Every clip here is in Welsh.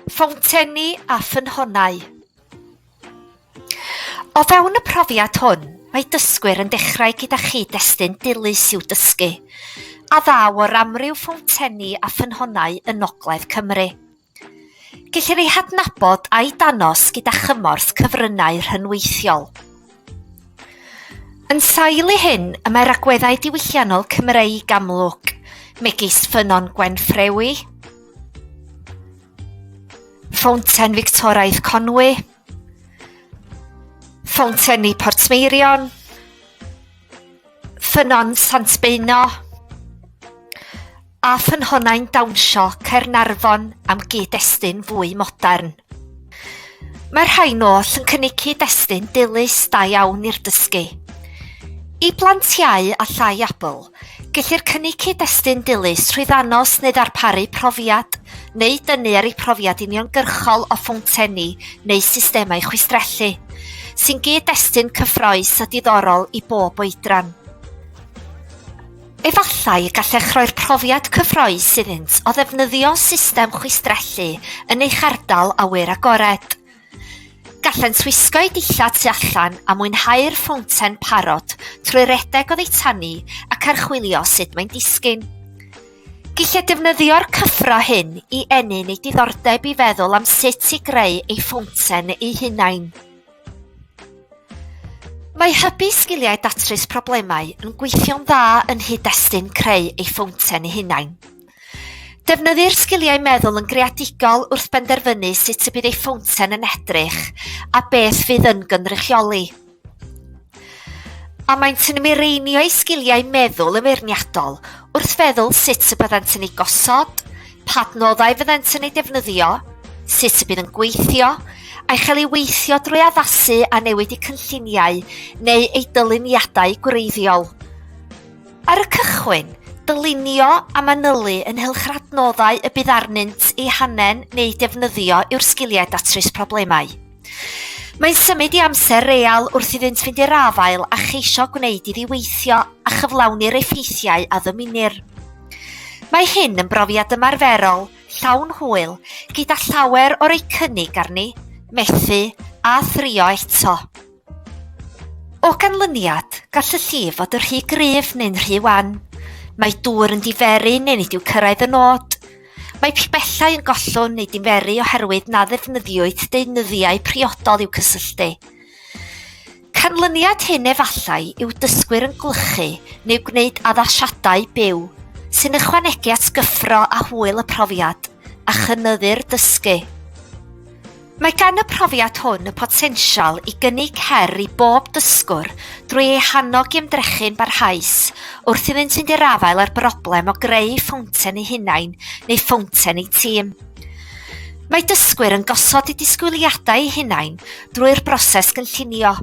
Ffowntenni a ffynhonnau O fewn y profiad hwn, mae dysgwyr yn dechrau gyda chyd-destun dilys i'w dysgu, a ddaw o'r amryw ffowntenni a ffynhonnau yn Ngogledd Cymru. Gellir eu hadnabod a'u danos gyda chymorth cyfryngau rhynweithiol. Yn sail i hyn, y mae'r agweddau diwylliannol Cymreig amlwg, megis Ffynnon Gwenffrewi, Ffownten Fictoraidd Conwy, Ffowntenni Portmeirion, Ffynnon Sant Beino a ffynhonnau'n dawnsio Caernarfon am gyd-destun fwy modern. Mae'r rhain oll yn cynnig cyd-destun dilys da iawn i'r dysgu. I blant iau a llai abl, gellir cynnig cyd-destun dilys trwy ddanos neu ddarparu profiad neu dynnu ar ei profiad uniongyrchol o ffowntenni neu systemau chwistrellu, sy'n gyd-destun cyffroes a diddorol i bob oedran. Efallai y gallech roi'r profiad cyffroes iddynt o ddefnyddio system chwistrellu yn eich ardal awyr agored. Gallent wisgo eu dillad tu allan a mwynhau'r ffownten parod trwy redeg o ddeitanu ac archwilio sut mae'n disgyn. Gellid defnyddio'r cyffro hyn i ennyn ei diddordeb i feddwl am sut i greu ei ffownten ei hunain. Mae hybu sgiliau datrys problemau yn gweithio'n dda yn hyd-destun creu ei ffownten ei hunain. Defnyddir sgiliau meddwl yn greadigol wrth benderfynu sut y bydd ei ffownten yn edrych a beth fydd yn gynrychioli. Ond maent yn mireinio eu sgiliau meddwl yn feirniadol wrth feddwl sut y byddant yn eu gosod, pa adnoddau fyddant yn eu defnyddio, sut y bydd yn gweithio, a'i chael ei weithio drwy addasu a newid eu cynlluniau neu eu dyluniadau gwreiddiol. Ar y cychwyn, dylunio a manylu ynghylch yr adnoddau y bydd arnynt eu hanen neu defnyddio yw'r sgiliau datrys problemau. Mae'n symud i amser real wrth iddynt fynd i'r afael a cheisio gwneud iddi weithio a chyflawni'r effeithiau a ddymunir. Mae hyn yn brofiad ymarferol, llawn hwyl, gyda llawer o'r eu cynnig arni, methu a thrio eto. O ganlyniad, gall y llif fod yn rhy gryf neu'n rhy wan. Mae dŵr yn diferu neu nid yw cyrraedd y nod. Mae pibellau yn gollwng neu dinferu oherwydd na ddefnyddiwyd deunyddiau priodol i'w cysylltu. Canlyniad hyn efallai yw dysgwyr yn gwlychu neu gwneud addasiadau byw, sy'n ychwanegu at gyffro a hwyl y profiad a chynyddu'r dysgu. Mae gan y profiad hwn y potensial i gynnig her i bob dysgwr drwy eu hannog i ymdrechu'n barhaus wrth iddynt fynd i'r afael â'r broblem o greu ffownten eu hunain neu ffownten eu tîm. Mae dysgwyr yn gosod eu disgwyliadau eu hunain drwy'r broses gynllunio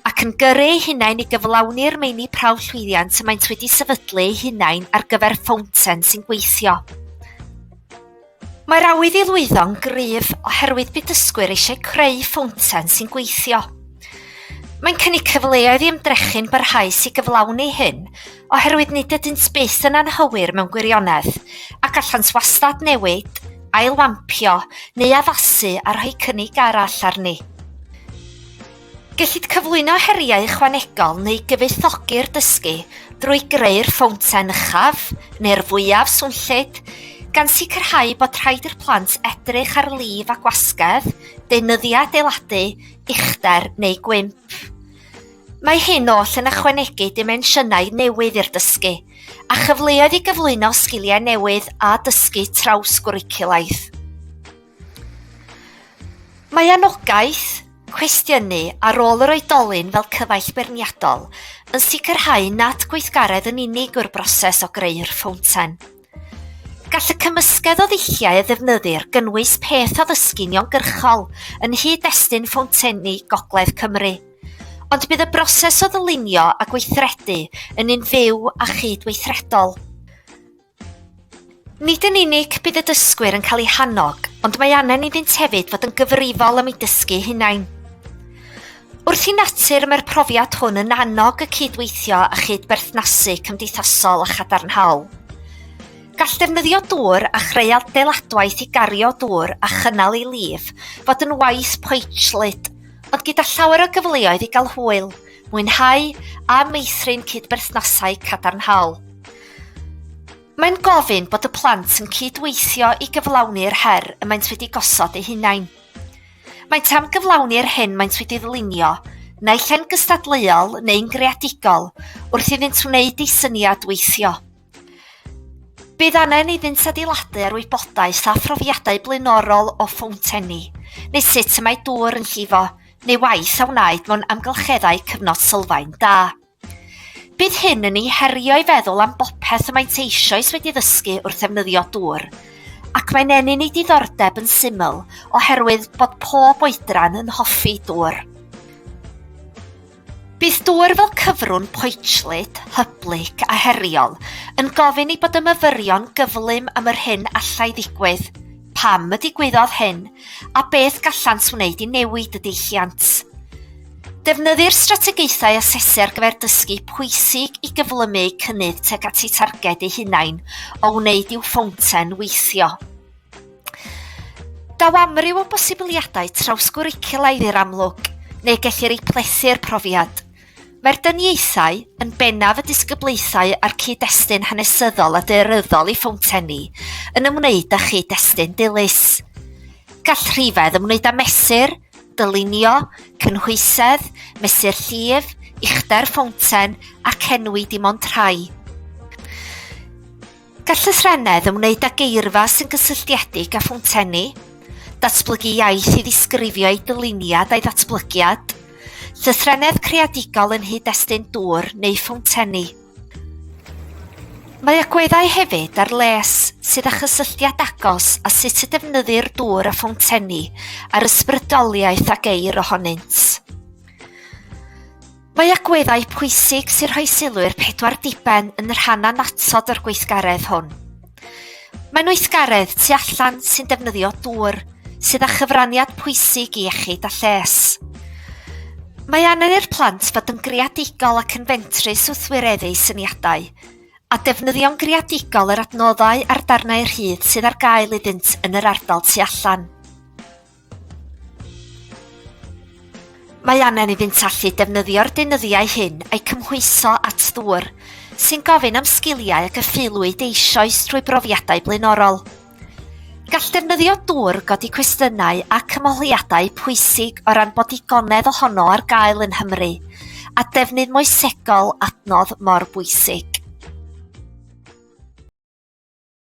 ac yn gyrru eu hunain i gyflawni'r meini prawf llwyddiant y maent wedi sefydlu eu hunain ar gyfer ffownten sy'n gweithio. Mae'r awydd i lwyddo'n gryf oherwydd bydd dysgwyr eisiau creu ffownten sy'n gweithio. Mae'n cynnig cyfleoedd i ymdrechu'n barhaus i gyflawni hyn, oherwydd nid ydynt byth yn anghywir mewn gwirionedd, a gallant wastad newid, ailwampio neu addasu a rhoi cynnig arall arni. Gellid cyflwyno heriau ychwanegol neu gyfoethogi'r dysgu drwy greu'r ffownten uchaf neu'r fwyaf swnllyd, gan sicrhau bod rhaid i'r plant edrych ar lif a gwasgedd, deunyddiau adeiladu, uchder neu gwymp. Mae hyn oll yn ychwanegu dimensiynau newydd i'r dysgu a chyfleoedd i gyflwyno sgiliau newydd a dysgu trawsgwricwlaidd. Mae anogaeth cwestiynu ar rôl yr oedolyn fel cyfaill beirniadol yn sicrhau nad gweithgaredd yn unig yw'r broses o greu'r ffownten. Gall y cymysgedd o ddulliau a ddefnyddir gynnwys peth addysgu uniongyrchol yn nhŷ-destun ffowntenni Gogledd Cymru, ond bydd y broses o ddylunio a gweithredu yn un fyw a chyd-weithredol. Nid yn unig bydd y dysgwyr yn cael eu hannog, ond mae anen iddynt hefyd fod yn gyfrifol am eu dysgu hunain. Wrth i natur mae'r profiad hwn yn annog y cydweithio a chyd-berthnasu cymdeithasol a chadarnhaol. Gall defnyddio dŵr a chreu adeiladwaith i gario dŵr a chynnal ei lif fod yn waith poetllyd, ond gyda llawer o gyfleoedd i gael hwyl, mwynhau a meithrin cyd-berthnasau cadarnhaol. Mae'n gofyn bod y plant yn cyd-weithio i gyflawni'r her y maent wedi gosod eu hunain. Maent am gyflawni'r hyn maent wedi ddylunio, naill ai'n gystadleuol neu'n greadigol, wrth iddynt wneud ei syniad weithio. Bydd angen iddynt adeiladu ar wybodaeth a phrofiadau blaenorol o ffownteni, neu sut y mae dŵr yn llifo, neu waith a wnaed mewn amgylcheddau cyfnod sylfaen da. Bydd hyn yn ei herio i feddwl am bopeth y maent eisoes wedi ddysgu wrth ddefnyddio dŵr, ac mae'n ennyn ei diddordeb yn syml oherwydd bod pob oedran yn hoffi dŵr. Bydd dŵr fel cyfrwng poetllyd, hyblyg a heriol yn gofyn i bod y myfyrion gyflym am yr hyn allai ddigwydd, pam y digwyddodd hyn, a beth gallant wneud i newid y deilliant. Defnyddir strategaethau asesu ar gyfer dysgu pwysig i gyflymu eu cynnydd tuag at eu targed eu hunain o wneud i'w ffownten weithio. Daw amryw o bosibiliadau trawsgwricwlaidd i'r amlwg, neu gellir eu plethu'r profiad. Mae'r dyniaethau, yn bennaf y disgyblaethau a'r cyd-destun hanesyddol a daearyddol i ffowntenni, yn ymwneud â chyd-destun dilys. Gall rhifedd ymwneud â mesur, dylunio, cynhwysedd, mesur llif, uchder ffownten ac enwi dim ond rhai. Gall llythrennedd ymwneud â geirfa sy'n gysylltiedig â ffowntenni, datblygu iaith i ddisgrifio ei dyluniad a'i ddatblygiad, llythrennedd creadigol yn hyd-destun dŵr neu ffowntenni. Mae agweddau hefyd ar les sydd â chysylltiad agos â sut y defnyddir dŵr a ffowntenni a'r ysbrydoliaeth a geir ohonynt. Mae agweddau pwysig sy'n rhoi sylw i'r pedwar diben yn rhan annatod o'r gweithgaredd hwn. Mae'n weithgaredd tu allan sy'n defnyddio dŵr, sydd â chyfraniad pwysig i iechyd a lles. Mae angen i'r plant fod yn greadigol ac yn fentrus wrth wireddu syniadau, a defnyddio'n greadigol yr adnoddau a'r darnau rhydd sydd ar gael iddynt yn yr ardal tu allan. Mae angen iddynt allu defnyddio'r deunyddiau hyn a'i cymhwyso at ddŵr, sy'n gofyn am sgiliau a gyfeilwyd eisoes trwy brofiadau blaenorol. Gall defnyddio dŵr godi cwestiynau ac ymholiadau pwysig o ran bod digonedd ohono ar gael yn Nghymru, a defnydd moesegol adnodd mor bwysig.